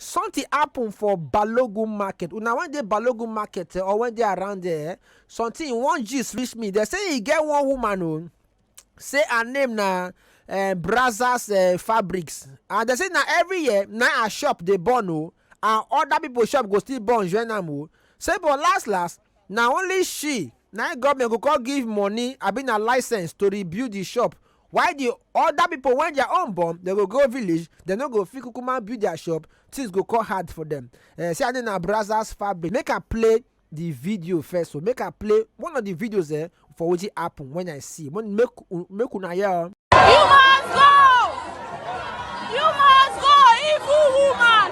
Something happen for Balogun market, una wen dey Balogun market eh or wen dey around there eh, something one gist reach me, dem say e get one woman o, say her name na um Brazzers um fabrics and dem say na every year na im her shop dey burn o and other people shop go still burn join am o, say but las las na only she na im government go come give money abi na licence to rebuild di shop While di oda pipo wen dia own burn, dem go go village, dem no go fit kukuma build dia shop, tins go kon hard for dem. Eh, say her name na Brazzers Fabric. Make I play di video first o, make I play one of di videos eh, for wetin happen wen I see, make make una hear o. You must go! You must go, evil woman!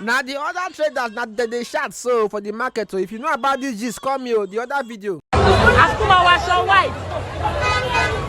na the other traders na dem dey shout so for the market so if you know about this gist call me o the other video. akumawaṣọ white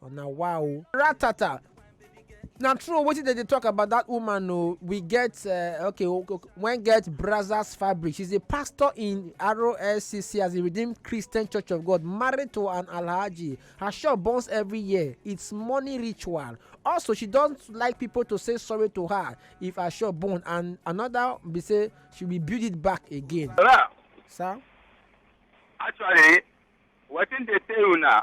una wa o ratata na true o wetin dem dey talk about that woman o we get eh, okay o- o- wen get brazzers fabric she's a pastor in roscc as a redeemed christian church of god married to an alhaji her shop burns every year it's money ritual also she don like people to say sorry to her if her shop burn and another be say she will build it back again Ra, sir. actually, wetin dey tell una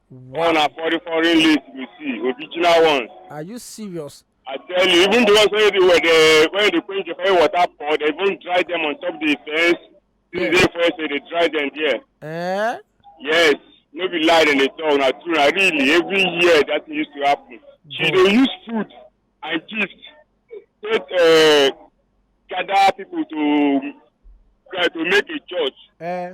Wow. All na foreign foreign list you see, original ones. Are you serious? I tell you, even the ones where they were the where they quench the fire water pour, they even dry them on top the fence. Yeah. They first they dry them there. Eh? Yes. No be lie in the talk na true na really every year that thing used to happen. She mm. dey use food and gift take uh, gather people to uh, to make a church. Eh.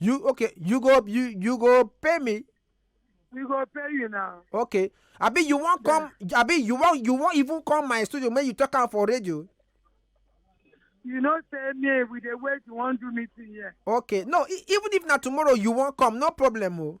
You okay? You go you you go pay me. We go pay you now. Okay. Abi you wan come? Abi you wan you wan even come my studio make you talk am for radio? You know say me we dey wait you wan do meeting here. Okay. No, e- even if na tomorrow you wan come, no problem o.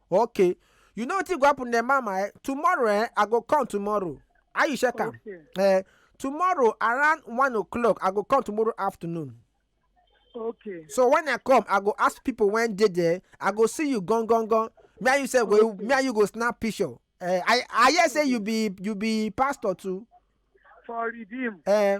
okay you know wetin go happen dem mama eh tomorrow eh i go come tomorrow how you check am Okay. eh tomorrow around one o'clock i go come tomorrow afternoon Okay. so when i come i go ask people when dey there i go see you gan gan gan me and you sef go Okay. me and you go snap picture eh i i hear say you be you be pastor too For redeem. eh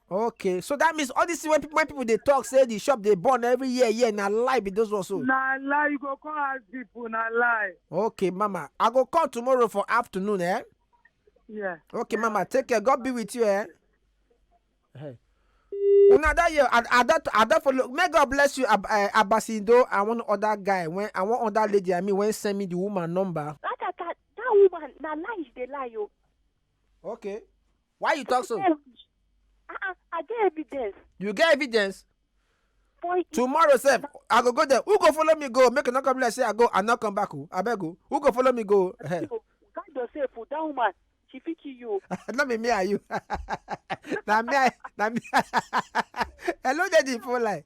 okay so that means all this thing wey people wey people dey talk say the shop dey burn every year year na lie be those ones so. na lie you go come ask people na lie. okay mama i go call tomorrow for afternoon eh. Yeah. okay mama take care god be with you eh. Hey. una that year i i don i don follow may god bless you Ab uh, abasindo and one other guy when and one other lady i mean when send me the woman number. that that that, that woman na lie she dey lie o. Oh. Okay. Why you talk so? I, ah, ah, I get evidence. You get evidence? Boy, Tomorrow, sir, I go go there. Who go follow me go? Make a knock up like say I go and not come back. Oh. I beg you. Who go follow me go? Hey. God yourself, oh, that woman. She fit kill you. Not me, me are you. na me, na me. Hello, daddy, for like.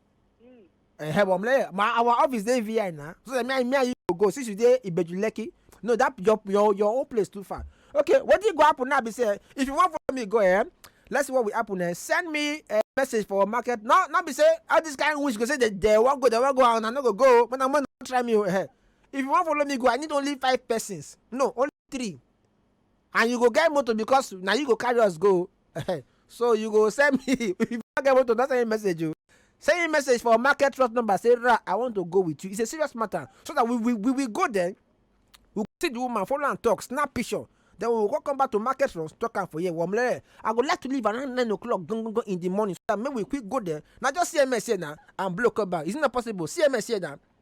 Mm. Eh, hey, mom, like, my our office dey VI now. So that me and me and you go go since you dey Ibeju Lekki. No, that your your your own place too far. Okay, what did go happen now? Be say if you want for me, go ahead. Eh? Let's see what will happen. Eh? Send me a message for market. No, not be say all this kind of wish go say they they want go, they want go, and I no go go. But I'm gonna try me. Eh? If you want follow me, go. I need only five persons. No, only three. And you go get motor because na you go carry us go so you go send me if you no get motor no send me message o send me message for market trust number say ra i want to go with you it's a serious matter so that we we we will go there we go see the woman follow am talk snap picture then we go come back to market trust talk am for here womlere i go like to leave around nine o'clock gangan in the morning so that make we quick go there na just cms here na and blow come back is it not possible cms here na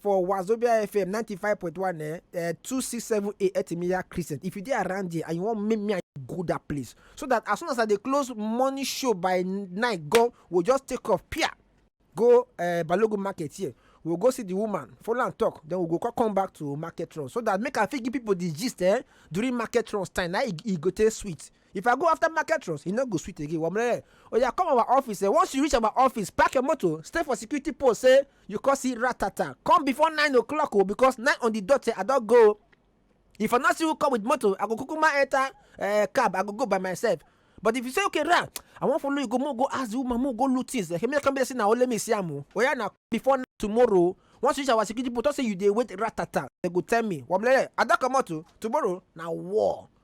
for wazobia fm ninety five point one eh eh two six seven eight etimiya crescent if you dey around there and you wan make me and you go that place so that as soon as i dey close morning show by nine go we just take off pia go uh, balogun market here we we'll go see the woman follow am talk then we we'll go come back to market run so that make i fit give people the gist eh during market runs time na e, e go take sweet If I go after market runs, e no go sweet again, Wamrere. Oya come our office, eh, once you reach our office, park your motor, stay for security post, say you come see ratata. Come before nine o'clock o, because nine on the dot, eh, I don go. If I no see who come with motor, I go kukuma enter uh, cab, I go go by myself. But if you say, okay, Ra, I wan follow you go, mo go ask the woman, mo go loot things. Eh, me come be say na only me see am o. Oya na before nine tomorrow, once you reach our security post, talk say you dey wait ratata. They go tell me, Wamrere, I don comot o, tomorrow na war.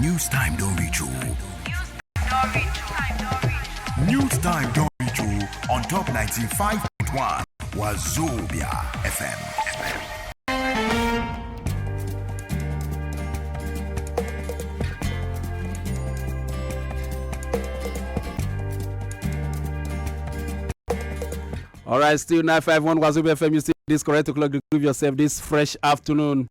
News time don reach o. News time don reach o on top 95.1 Wazobia FM. FM. All right, still 951 Wazobia FM. You see this correct o'clock. Groove yourself this fresh afternoon.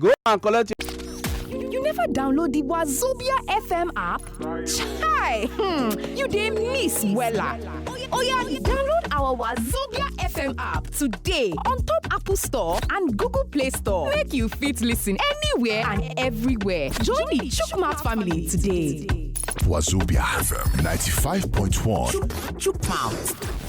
Go and collect your. You never download the Wazobia FM app? Chai! Hmm, you dey miss wella. Oya, download our Wazobia FM app today on top Apple Store and Google Play Store. Make you fit listen anywhere and everywhere. Join the Chukmat family today. Wazobia FM 95.1. Chukmouth.